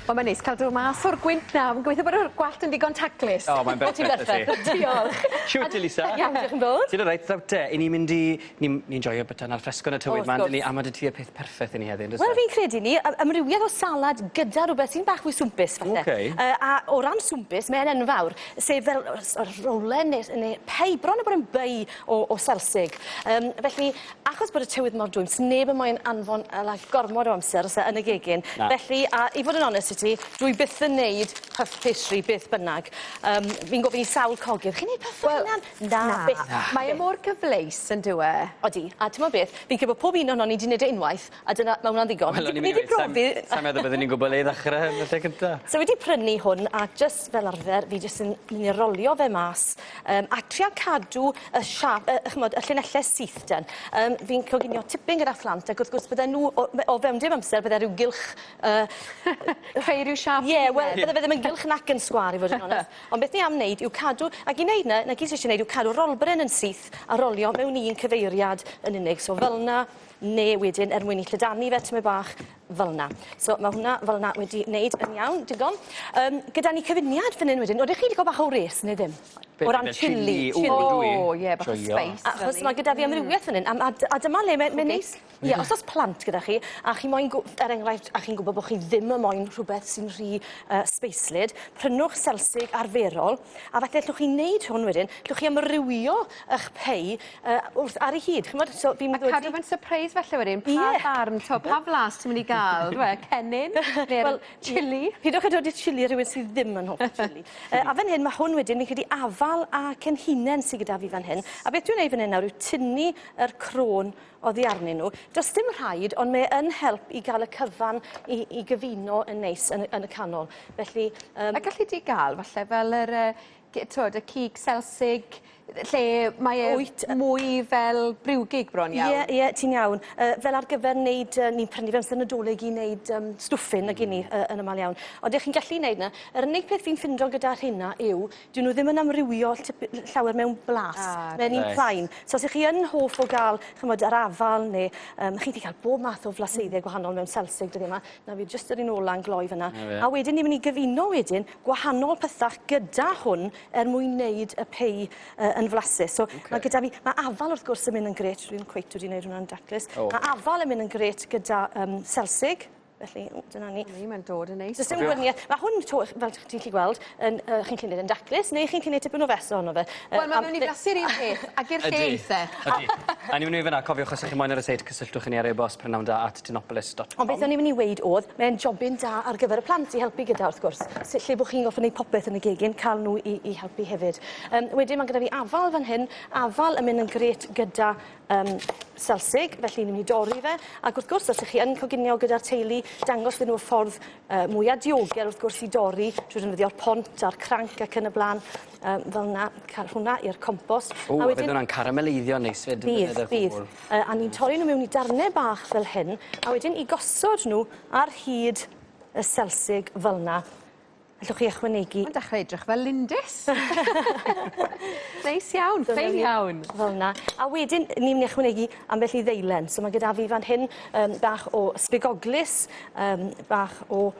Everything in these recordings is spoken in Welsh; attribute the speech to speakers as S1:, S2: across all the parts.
S1: Wel mae'n neis cael dod mas o'r gwynt nawr. Fi'n gobeithio bod yr gwallt yn ddigon taclus. O mae'n berffeth. Ti'n berffeth.
S2: Diolch. Shwt
S1: Elisa?
S2: Iawn diolch yn fowr. Ti'n
S1: alright nawr te? 'Yn ni'n mynd
S2: i ni'n ni'n joio byta 'na'r ffresgo 'na tywydd 'ma on'd 'yn ni? A ma' 'dy ti y peth perffeth i ni heddi on'd o's e? Wel fi'n credu 'ny yy
S1: amrywiaeth o salad gyda rwbeth sy'n bach mwy swmpus falle. Oce. Yy a o ran swmpus mae e'n enfawr sef fel yy s- yr rowlen ne' s- ne' pei bron a bod yn bei o o selsig. Yym felly Achos bod y tywydd mor dwym, sneb yn moyn anfon yy like gormod o amser os e yn y gegin. Na. Felly, a i fod yn onest i ti, dwi byth yn neud puff pastry beth bynnag. Yym, fi'n gofyn i sawl cogydd, chi'n neud puff fel Wel, hunan? Na. Na, byth. Na. Mae e mor
S3: cyfleus, yndyw e? Odi, a t'mod
S1: beth, fi'n credu bo' pob un ohonon ni 'di neud e unwaith, A dyna ma' wnna'n ddigon. Wel o'n i myn' i weud sai'n... Ni 'di profi... ...sai'n
S2: meddwl bydden i'n gwbo le i ddechre yn y lle cynta. So fi 'di prynu hwn a
S1: jyst fel arfer fi jyst yn myn' i rolio fe mas yym a tria cadw y siâp yy yy ch'mod y llinelle syth ten. Yym fi'n coginio tipyn gyda phlant ac wrth gwrs bydden nw o me- o fewn dim amser bydde ryw gylch yy
S3: creu ryw siâp... Ie wel bydde fe ddim yn
S1: gylch nac yn sgwâr i fod yn onest. Ond beth ni am neud yw cadw ac i neud 'ny 'na gyd ti isie neud yw cadw rolberen yn syth a rolio mewn un cyfeiriad yn unig so fel 'na neu wedyn er mwyn i llydanu fe tymed bach fel 'na. So ma' hwnna fel 'na wedi neud yn iawn, digon. Yym gyda ni cyfuniad fan 'yn wedyn, odych chi 'di ga'l bach o wres ne' ddim? Be'? O ran chilli, chilli. O dwi. O ie
S3: bach o spice fel 'yn. Achos ma' gyda fi amrywieth
S1: fan 'yn a ma' a dyma le mae mae'n neis. Ie os o's plant gyda chi a chi moyn gw- er enghraifft a chi'n gwbo bo' chi ddim yn moyn rhwbeth sy'n rhy yy sbeislyd, prynwch selsig arferol a falle llwch chi neud hwn wedyn, llwch chi amrywio 'ych pie Yy wrth ar 'i hyd ch'mod so fi'n meddwl... A cadw fe'n
S3: sypreis falle wedyn pa... Ie. ...farn t'o' pa flas ti myn' i ga'l on'd yw e? Cennin ne'r... Wel... ...chilli. Pidwch â dodi chilli
S1: ar rywun sydd ddim yn hoffi chilli. Yy a fan hyn ma' hwn wedyn fi'n credu afal a cenhinen sy gyda fi fan hyn a beth dwi'n neud fan 'yn nawr yw tynnu yr crôn oddi arnyn n'w. Do's dim rhaid on' mae yn help i ga'l y cyfan i i gyfuno yn neis yn y yn y canol felly yym... A galli di
S3: ga'l falle fel yr yy gy- t'wod y cig selsig lle mae e... Wyt. ...mwy fel briwgig bron iawn. Ie ie ti'n iawn. Yy
S1: fel ar gyfer neud yy ni'n prynu fe amser Nadolig i neud yym stwffyn nag 'yn ni yy yn amal iawn. Ond 'ych chi'n gallu neud 'na. Yr unig peth fi'n ffindo gyda rheina yw 'dyn nw ddim yn amrywio tip- l- llawer mewn blas. Ah reit. Mae'n un plain. So os 'ych chi yn hoff o ga'l ch'mod yr afal ne' yym chi 'di ca'l bob math o flaseiddiau gwahanol mewn selsig dyddie 'ma. 'Na fi jyst yr un ola'n gloi fan 'na. 'Na fe. A wedyn ni myn' i gyfuno wedyn gwahanol pysach gyda hwn er mwyn wneud y pei uh, yn flasus. So okay. mae gyda fi, mae afal wrth gwrs yn mynd yn gret, rwy'n cweit wedi gwneud hwnna'n daclus. Oh. Mae afal yn mynd yn gret gyda um, selsig, felly dyna ni. Ni, mae'n dod yn neis. Does
S3: dim gwirniaeth. Mae hwn,
S1: to, fel ti'n gallu gweld, yn, uh, chi'n cynnig yn daclus, neu chi'n cynnig tipyn o fes ohono fe. Uh, Wel, mae'n mynd i glasu'r
S3: un peth, ac i'r lle eitha. Ydy, ydy. A ni'n
S2: mynd i fyna, cofiwch os ydych chi'n moyn ar y seit, cysylltwch i ni ar e-bost prynawda at Stenopolis dot com. Ond beth o'n i myn' i weud
S1: o'dd, mae e'n jobyn da ar gyfer y plant i helpu gyda wrth gwrs, sy- lle bo' chi'n gorffo neud popeth yn y gegin, ca'l n'w i i helpu hefyd. Yym wedyn ma' gyda fi afal fan hyn, afal yn myn' yn grêt gyda yym selsig, felly ni myn' i dorri fe, ac wrth gwrs os 'ych chi yn coginio gyda'r teulu, dangos iddyn n'w y ffordd yy mwya diogel wrth gwrs i dorri, trwy ddefnyddio'r pont a'r cranc ac yn y bla'n. Yym fel 'na ca'l hwnna i'r compos. O a wedyn... Ww a bydd wnna'n
S2: carameleiddio'n neis 'fyd yn y cwbwl. Bydd bydd. Yy
S1: a ni'n torri nw miwn i darne bach fel hyn a wedyn i gosod nw ar hyd y selsig fel 'na allwch chi ychwanegu... Ma'n dechre edrych fel
S3: lindys. Neis iawn, ffein iawn. Fel 'na. A
S1: wedyn ni myn' i ychwanegu ambell i ddeilen so ma' gyda fi fan hyn yym bach o sbigoglys yym bach o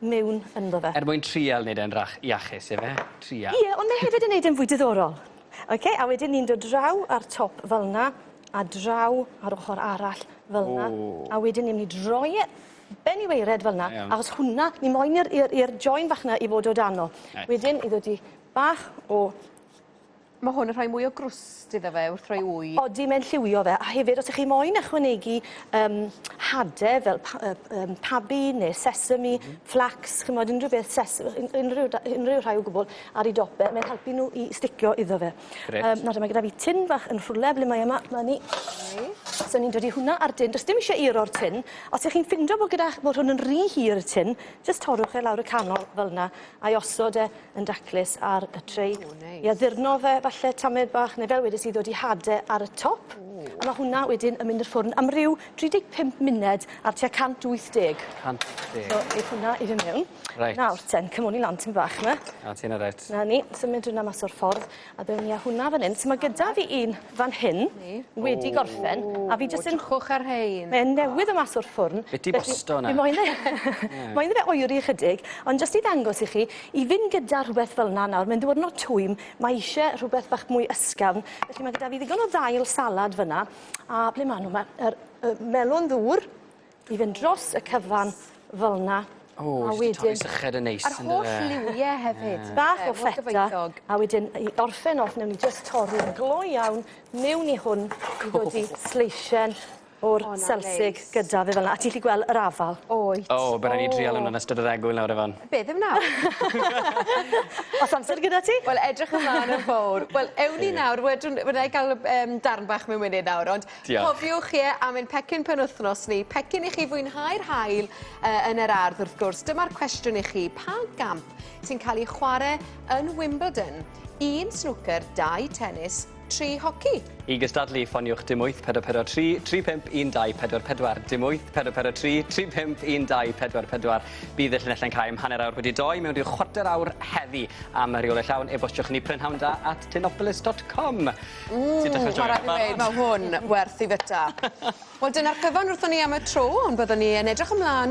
S1: mewn ynddo fe. Er mwyn trial neud e'n rach-
S2: iachus ife? Trial. Ie, ond mae hefyd yn neud e'n
S1: fwy diddorol. Oce, a wedyn ni'n dod draw ar top fel 'na, a draw ar ochor arall fel 'na. O! A wedyn ni myn' i droi e ben i waered fel 'na. Da iawn. Achos hwnna, ni moyn i'r i'r i'r join fach 'na i fod o dan o. Reit. Wedyn i ddodi bach o Mae hwn
S3: yn rhoi mwy o grwst iddo fe wrth roi wy. Odi, mae'n lliwio fe.
S1: A hefyd, os ych chi moyn ychwanegu um, hade fel pa, um, pabi neu sesame, mm -hmm. flax, chymod unrhyw beth sesame, unrhyw, unrhyw rhai o gwbl ar ei dope, mae'n helpu nhw i sticio iddo fe. Um, nawr, mae gyda fi tin bach yn rhwle, ble mae yma, mae ni. Okay. So ni'n dod i hwnna ar dyn, does dim eisiau ir o'r tin. Os ych chi'n ffindo bod, gyda, bod hwn yn rhy hir y tin, jyst torrwch e lawr y canol fel yna, a'i osod e yn daclus ar y tray. O, neis. I addurno fe, falle tamed bach, neu fel wedes i, ddod i hade ar y top. Ww. A ma' hwnna wedyn yn mynd i'r ffwrn am ryw 35 muned ar tua 180. 180. So,
S2: neith hwnna i fyn
S1: mewn. Reit. Nawr ten,
S2: cymoni lan
S1: tym bach 'ma. A ti 'na reit. 'Na
S2: ni, symud hwnna
S1: mas o'r ffordd. A ddown ni â hwnna fan 'yn. So ma' gyda fi un fan hyn wedi gorffen a fi jyst yn... O twchwch ar rhein. Mae e
S3: newydd do' mas o'r
S1: ffwrn. Be' ti bosto 'na? Fi moyn
S2: e moyn iddo
S1: fe oeri ychydig ond jyst i ddangos i chi i fyn' gyda rhwbeth fel 'na nawr mae'n ddiwrnod twym mae eisie rhwbeth bach mwy ysgafn felly ma' gyda fi ddigon o ddail salad fyn 'na a ble ma' n'w ma' yr yy melon ddŵr i fynd dros y cyfan fel 'na. O, jyst yn torri
S2: syched yn neis yndyfe? A'r holl liwie
S3: hefyd. Bach o ffeta,
S1: a wedyn i orffen off newn ni jyst torri yn glo iawn mewn i hwn i ddodi sleisien o'r selsig gyda fe fel 'na, a ti 'llu gwel' yr afal. Wyt. O, by' rai' ni
S3: drial wnna
S2: yn ystod yr egwyl nawr Efan. Be', ddim nawr?
S1: O's amser gyda ti? Wel edrych ymlan yn
S3: fowr. Wel, ewn ni nawr, wedwn- wna i ga'l yym darn bach mewn munud nawr ond Diolch. Cofiwch, ie, am ein pecyn penwythnos ni. Pecyn i chi fwynhau'r haul uh, yn yr ardd, wrth gwrs. Dyma'r cwestiwn i chi. Pa gamp sy'n cael ei chwarae yn Wimbledon? Un snwcer, dau tennis, tri hoci. I gystadlu,
S2: ffoniwch dim 8 443 35 1244, dim 8 443 35 1244. Bydd y llinell yn cael am hanner awr wedi doi mewn rhyw chwarter awr heddi. Am y rheolau llawn, e-bostiwch ni prynhawnda at tinopolis.com. Ww! Ti'n
S3: dechre joio fe barod. Ma' rai' fi weud ma' hwn werth 'i fita. Wel dyna'r cyfan wrthon ni am y tro ond byddwn ni yn edrych ymlan